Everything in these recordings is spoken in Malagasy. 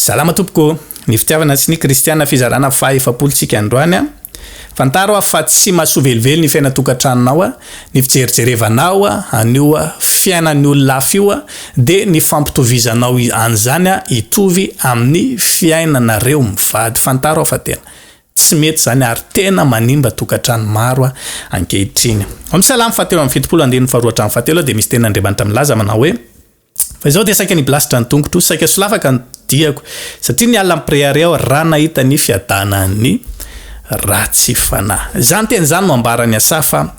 Salama tompoko, ny fitiavana sy ny kristiana fizarana faha efapolo tsika androany a, fantaro aho fa tsy mahasoa velively ny fiaina tokatranonao a, ny fijerijerevanao an'io fiainan'ny olona hafa io a, de ny fampitovizanao an'izany a hitovy amin'ny fiainanareo mivady, fantaro aho fa tena tsy mety zany ary tena manimba tokatrano maro a ankehitriny. Om Salam fa teo amin'ny fitopolo andininy faharoa hatramin'ny fahatelo aho de misy tenin'Andriamanitra milaza manao hoe. Fa izao dia saika niblasitra ny tongotro, saika solafaka ny diako, satria niala ny preary aho raha nahita ny fiadanan'ny ratsy fanahy. Izany teny izany no ambaran'i Asafa fa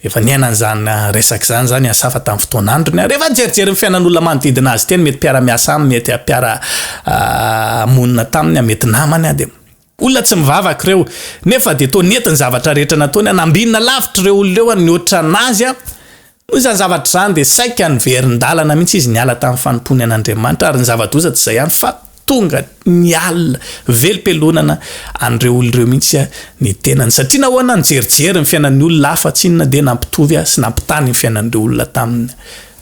efa niaina an'izany resaka izany izany i Asafa tamin'ny fotoan'androny. Rehefa nijerijery ny fiainan'olona manodidina azy teny, mety mpiara-miasa aminy, mety mpiara-monina taminy, mety namany, dia. Olona tsy mivavaka ireo, nefa dia toa nety ny zavatra rehetra nataony, nambinina lavitra ireo olona ireo ary nihoatra an'azy. Noho izany zavatra izany dia saika niverin-dalana mihitsy izy niala tamin'ny fanompoany an'Andriamanitra, ary ny zava-doza tsy izay ihany fa tonga niala velom-pelonana an'ireo olona ireo mihitsy ny tenany. Satria nahoana? Nijerijery ny fiainan'ny olona hafa tsy inona dia nampitovy sy nampitaha ny fiainan'ireo olona taminy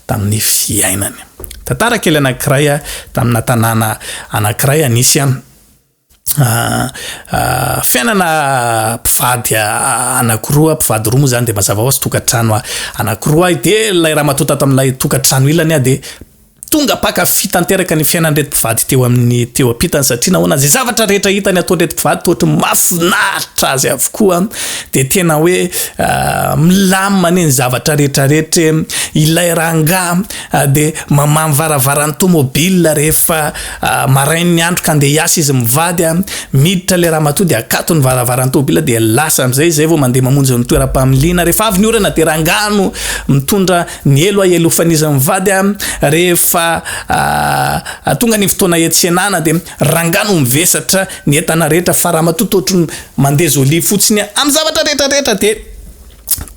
tamin'ny fiainany. Tantara kely anankiray tamina tanàna anankiray anisy. Fiainana mpivady anakiroa, mpivady roa moa zany de mazava hoazy tokantrano anakiroa de lay ramatoa tato amlay tokantrano ilany a de tonga mpankafy tanteraka ny fiainan'ireto mpivady teo amin'ny teo ampitany satria nahoana ze zavatra rehetra hitany ataon'ireto mpivady toa ohatran'ny mahafinaritra azy avokoa de tena hoe milamina anie ny zavatra rehetra rehetra e, ilay rangahy. dia mamamo varavaran'ny tomobile rehefa marain'ny andro ka andeha hiasa izy mivady a, miditra ilay ramatoa dia akato ny varavaran'ny tomobile dia lasa amin'izay izay vao mandeha mamonjy ny toeram-pamiliana, rehefa avy ny orana dia rangano mitondra ny elo ahelofan'izy mivady a, rehefa tonga ny fotoana hiantsenana dia rangano mivesatra ny entana rehetra fa ramatoa toa ohatry ny mandeha jolie fotsiny amin'ny zavatra rehetra rehetra dia.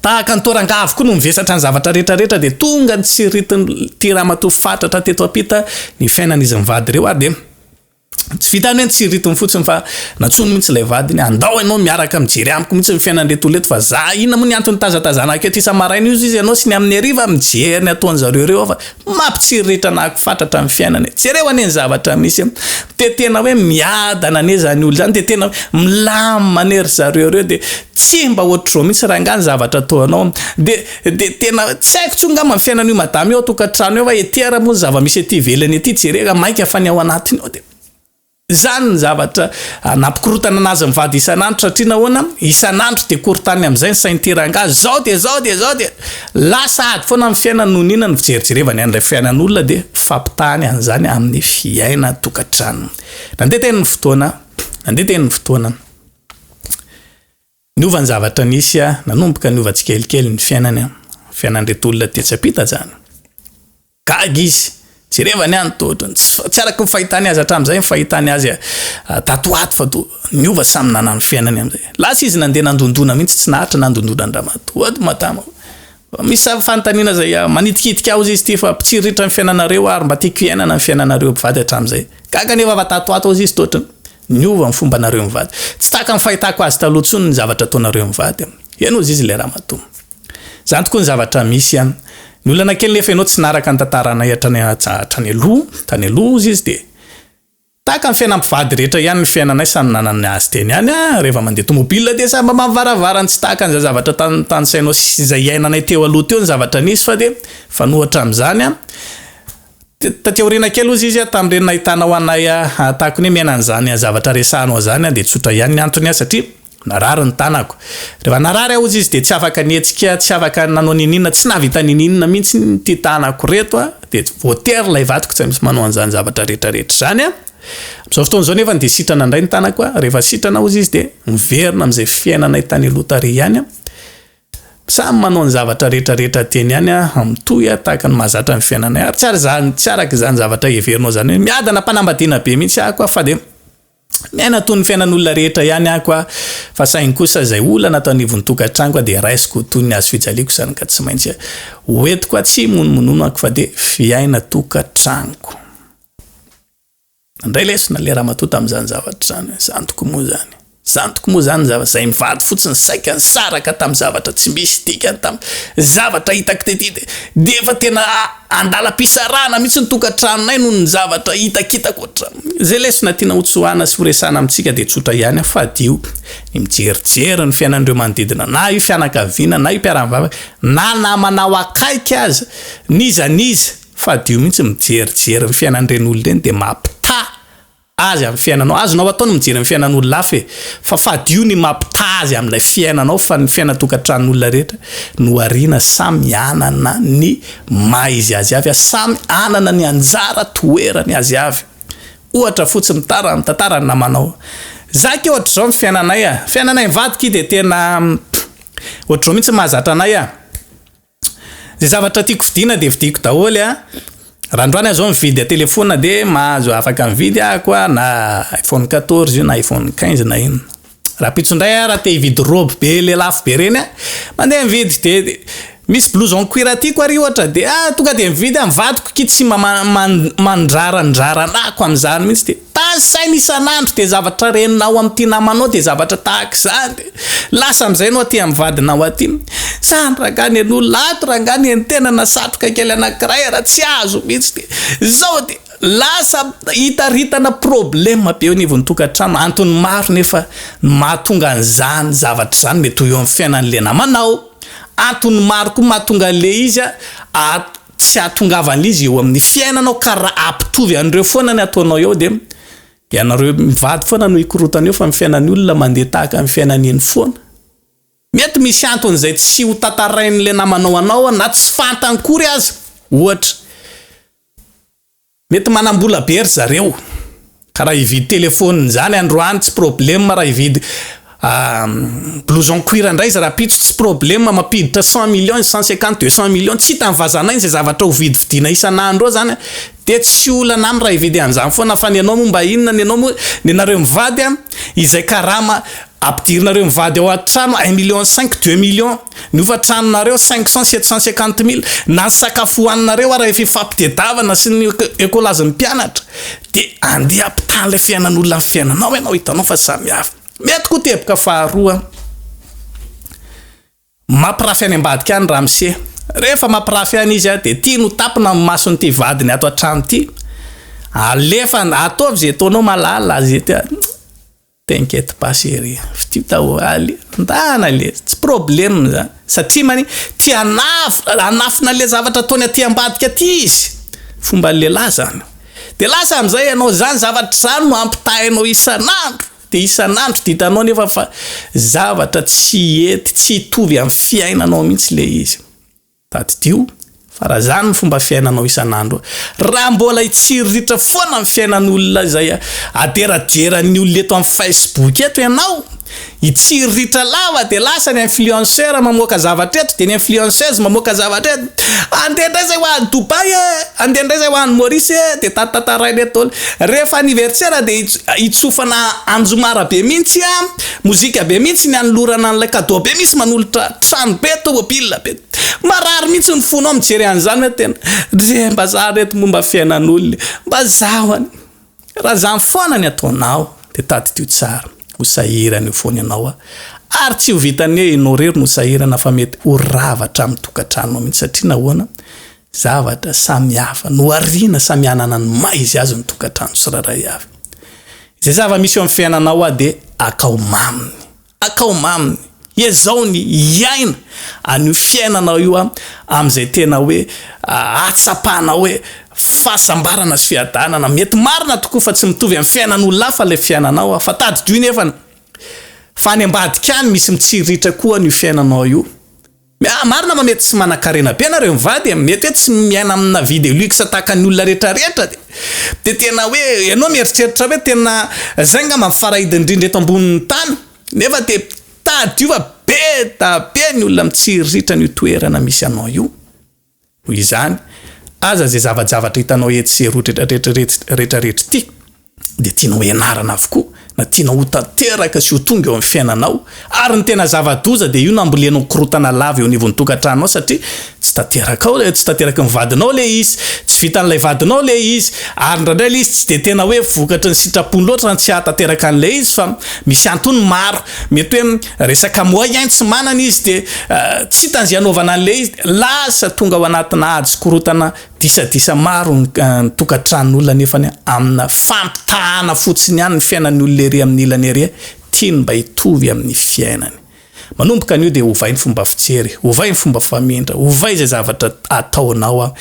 Tahaka ny toa rangaha avokoa no mivesatra ny zavatra rehetra rehetra dia tonga nitsiritin'ity ramatoa fatratra teto ampita ny fiainan'izy mivady ireo ary dia tsy vitan'ny hoe nitsiriritiny fotsiny fa nantsoiny mihitsy ilay vadiny andao ianao miaraka mijery amiko mihitsy ny fiainan'ireto olona ireto fa za inona moa ny antony nitazatazanako eto isa-maraina io izy ianao sy ny amin'ny hariva mijery ny ataon'izareo ireo aho fa Mampitsiriritra nahako fatratra ny fiainana e! Jereo anie ny zavatra misy e! Dia tena hoe miadana anie izany olona izany dia tena hoe milamina anie ry zareo ireo dia tsy mba ohatr'izao mihitsy rangahy ny zavatra ataonao dia dia tena hoe tsy haiko intsony angamba ny fiainan'io madama io ao an-tokantrano eo fa ety ara moa ny zava-misy ety ivelany ety jereo raha maika fa ny ao anatiny ao dia Izany ny zavatra nampikorontana an'azy mivady isan'andro satria nahoana? Isan'andro dia korontany amin'izay ny sain'ity rangahy izao dia izao dia izao dia lasa ady foana ny fiainany noho ny inona? Ny fijerijerevany an'ilay fiainan'olona dia fampitahany an'izany amin'ny fiaina tokantranony. Nandeha teny ny fotoana, nandeha teny ny fotoana. Niova ny zavatra nisy a! Nanomboka niova tsikelikely ny fiainany, fiainan'ireto olona tetsy ampita zany. Gaga izy, jerevany any toa ohatran'ny tsy tsy araka ny fahitany azy hatramin'izay ny fahitany azy tato ho ato fa toa niova samy nanano ny fiainany amin'izay. Lasa izy nandeha nandondona mihitsy tsy naharitra nandondona an-dRamatoa ato Matamo. Misy fanontaniana izay manitikitika aozy izy ity fa mpitsiriritra ny fiainanareo ary mba tiako hiainana ny fiainanareo mpivady hatramin'izay. Gaga anefa fa tato ho ato aozy izy toa ohatran'ny. Niova ny fombanareo mivady. Tsy tahaka ny fahitako azy taloha intsony ny zavatra ataonareo mivady an! Ianao zizy ilay ramatoa. Izany tokoa ny zavatra misy an! Ny olana kely nefa ianao tsy naraka ny tantaranay hatrany hatrany aloha, tany aloha hozy izy dia, Tahaka ny fiainam-pivady rehetra ihany ny fiainanay samy nanana ny azy teny ihany an! Reva mandeha tomobila dia samy mamaha ny varavarany tsy tahaka an'izay zavatra tan tanisainao sy izay iainanay teo aloha teo ny zavatra nisy fa dia, fanohatra amin'izany an! Taty aoriana kely ozy izy tamin'ireny nahitanao anay tahaka ny hoe miaina an'izany zavatra resahanao izany dia tsotra ihany ny antony satria narary ny tanako. Rehefa narary aho ozy izy dia tsy afaka nihetsika, tsy afaka nanao niniana, tsy nahavita niniana mihitsy ity tanako ireto dia voatery ilay vadiko tsy misy manao an'izany zavatra rehetra rehetra izany. Amin'izao fotoana izao nefa dia sitrana indray ny tanako, rehefa sitrana ozy izy dia miverina amin'izay fiainanay tany aloha tary ihany. Samy manao ny zavatra rehetra rehetra tiany ihany aho, mitohy aho tahaka ny mahazatra ny fiainanay, ary tsy ary za, tsy araka izany zavatra heverinao izany hoe miadana am-panambadiana be mihitsy aho koa fa dia miaina toy ny fiainan'olona rehetra ihany aho koa, fa saingy kosa izay olana ato anivon'ny tokantranoko aho dia raisiko toy ny hazofijaliako izany ka tsy maintsy ho entiko aho, tsy imonomonono aho fa dia fiaina tokatranoko. Nandray lesona le ramatoa tamzany zavatra zany, zantoko moa zany, zantoko moa zany zava, zay mivady fotsiny saika nisaraka tam zavatra tsy misy dikany tam zavatra hitako tety de de efa tena andalam-pisarahana mitsy ny tokatranonay noho ny zavatra hitakitako hatram, zay lesona tiana hotsoahana sy horesahana amitsika de tsotra ihany an, fadio ny mijerijery ny fiainan'ireo manodidina na io fianakaviana na io mpiara-mivavaka na namanao akaiky aza n'iza n'iza, Fadio mihitsy mijerijery ny fiainan'ireny olona ireny dia mampitaha azy amin'ny fiainanao. Azonao atao ny mijery ny fiainan'olona hafa e. Fa fadio ny mampitaha azy amin'ilay fiainanao fa ny fiainan-tokantranon'olona rehetra nohariana samy hanana ny maha izy azy avy ary samy hanana ny anjara toerany azy avy. Ohatra fotsiny tara ny tantaran'ny namanao. Za akia ohatr'izao ny fiainanay a. Fiainanay mivady akia dia tena ohatr'izao mihitsy mahazatra anay a. Ze zavatra tiako vidiana de vidiako daholo a, raha androany aho zao mividy telefona de mahazo afaka mividy ahako a na iphone quatorze io na iphone quinze na inona, rahampitso ndray aho raha te hividy robe be le lafo be reny a, mandeha mividy de misy blouses en cuir tiako ary ohatra de ah tonga de mividy aho, ny vadiko akia tsy mba man- mandrarandraranako amizany mintsy de. Tany saina isan'andro dia zavatra reninao amin'ity namanao dia zavatra tahaka izany. Lasa amin'izay ianao aty amin'ny vadinao aty. Izany rangahy nen'olona ato rangahy nen'tenana satroka kely anankiray ary tsy azo mihitsy. Izao dia lasa hitaritana problème be eo anivon'ny tokantrano. Antony maro nefa no mahatonga an'izany zavatra izany mety ho eo amin'ny fiainan'ilay namanao. Antony maro koa mahatonga an'ilay izy a. tsy hahatongavan'izy eo amin'ny fiainanao ka raha hampitovy an'ireo foana ny ataonao eo dia ianareo mivady foana no hikorotana eo fa ny fiainan'ny olona mandeha tahaka ny fiainany eny foana. Mety misy antony izay tsy ho tantarain'ilay namanao anao na tsy fantany kory aza, ohatra. Mety manambola be ry zareo ka raha hividy telephone zany androany tsy problème raha hividy blouson cuir ndray izy rahampitso tsy problème mampiditra cent millions cent cinquante deux cent millions tsy hitan'ny vazanay zay zavatra ho vidividiana isan'andro eo zany de tsy olana aminy raha hividy an'izany foana fa ny anao moa mba inona ny anao moa ny anareo mivady a izay karama ampidirinareo mivady ao an-trano un million cinq deux millions Ny hofan-tranonareo, cinq cents, sept cents cinquante mille, na ny sakafo hohaninareo ary rehefa ifampitdiavana sy ny ecolazy ny mpianatra dia andeha hampitaha an'ilay fiainan'olona amin'ny fiainanao ianao, hitanao fa samy hafa. Mety koa teboka faharoa, mampirafy any ambadika any ramose, rehefa mampirafy any izy dia tiany ho tapina amin'ny mason'ity vadiny ato an-trano ity, alefany, ataovy izay ataonao malala, izay tian-. T'inquiète pas chérie, fidio daholo, tandahana le, tsy problème zany, satria mani tia hanafina, hanafina anle zavatra ataony aty ambadika aty izy, fomban'ny lehilahy zany, de lasa amizay ianao zany zavatra zany no ampitahainao isan'andro, de isan'andro de hitanao nefa fa zavatra tsy hety, tsy hitovy amin'ny fiainanao mihintsy le izy. Tadidio fa raha izany ny fomba fiainanao isan'andro, raha mbola hitsiriritra foana ny fiainan'olona izay aderaderan'ny olona eto amin'ny Facebook eto ianao, hitsiriritra lava dia lasa ny influenceur mamoaka zavatra eto dia ny influenceuse mamoaka zavatra eto, andeha indray izay ho any Dubaï e, andeha indray izay ho any Maurice e, dia tatantaraina eto daholo. Rehefa anniversaire dia hitsofana anjomarabe mihitsy an! Mozika be mihitsy ny anolorana an'ilay cadeau be misy manolotra trano be, tomobile be. Marary mihitsy ny fonao mijery an'izany hoe tena ry mbazaha ry reto momba fiainan'olona e! Mba zaho anie. Raha izany foana ny ataonao dia tadidio tsara. Ho sahirana eo foana ianao a! Ary tsy ho vitan'ny hoe ianao irery no sahirana fa mety ho rava hatramin'ny tokantranonao mihitsy satria nahoana? Zavatra samy hafa no ariana samy hanana ny maha izy azy ny tokantrano tsirairay avy. Izay zava-misy eo amin'ny fiainanao hoa dia akao maminy. Akao maminy. Ezao ny hiaina an'io fiainanao io hoa amin'izay tena hoe ahatsapanao hoe fahasambarana sy fiadanana. Mety marina tokoa fa tsy mitovy amin'ny fiainan'olona hafa ilay fiainanao hoa fa tadidio nefany fa any ambadika any misy mitsiriritra koa hoa an'io fiainanao io. Miahy marina fa mety tsy manankarena be nareo mivady e, mety hoe tsy miaina amina vie de luxe tahaka ny olona rehetra rehetra de de tena hoe ianao mieritreritra hoe tena zay ngamba ny farahidiny indrindra eto ambonin'ny tany nefa de tadidio fa be da be ny olona mitsiriritra an'io toerana misy anao io. Noho izany, aza izay zava-javatra hitanao etsy sy eroa retraretra ity dia tianao hianarana avokoa na tianao ho tanteraka sy ho tonga eo amin'ny fiainanao ary ny tena zava-doza dia io nambolenao korontana lava eo anivon'ny tokantranonao satria tsy tanterakao tsy tanteraky ny vadinao ilay izy tsy vitan'ilay vadinao ilay izy ary indraindray ilay izy tsy dia tena hoe vokatry ny sitrapony loatra izany tsy hahatanteraka an'ilay izy fa misy antony maro mety hoe Resaka moyen tsy manana izy dia tsy hitany izay hanaovana an'ilay izy dia lasa tonga ao anatina ady korotana disadisa maro ny tokantranon'olona nefa amina fampitahana fotsiny ihany ny fiainan'ny olona ery amin'ny ilany ery tiany mba hitovy amin'ny fiainany. Manomboka anio dia ovay ny fomba fijery, ovay ny fomba famindra, ovay izay zavatra ataonao an!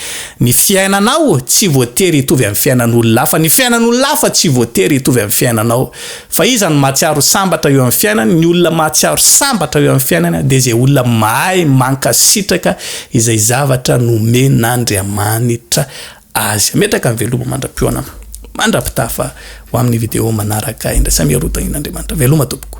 Ny fiainanao tsy voatery hitovy amin'ny fiainan'olona hafa, ny fiainan'olona hafa tsy voatery hitovy amin'ny fiainanao Fa iza no mahatsiaro sambatra eo amin'ny fiainany? Ny olona mahatsiaro sambatra eo amin'ny fiainany dia izay olona mahay mankasitraka izay zavatra nomen'Andriamanitra azy. Hametraka ny veloma mandra-peo anao mandra-pitafa ho amin'ny video manaraka indray. Samy hiaroa tahin'Andriamanitra. Veloma tompoko.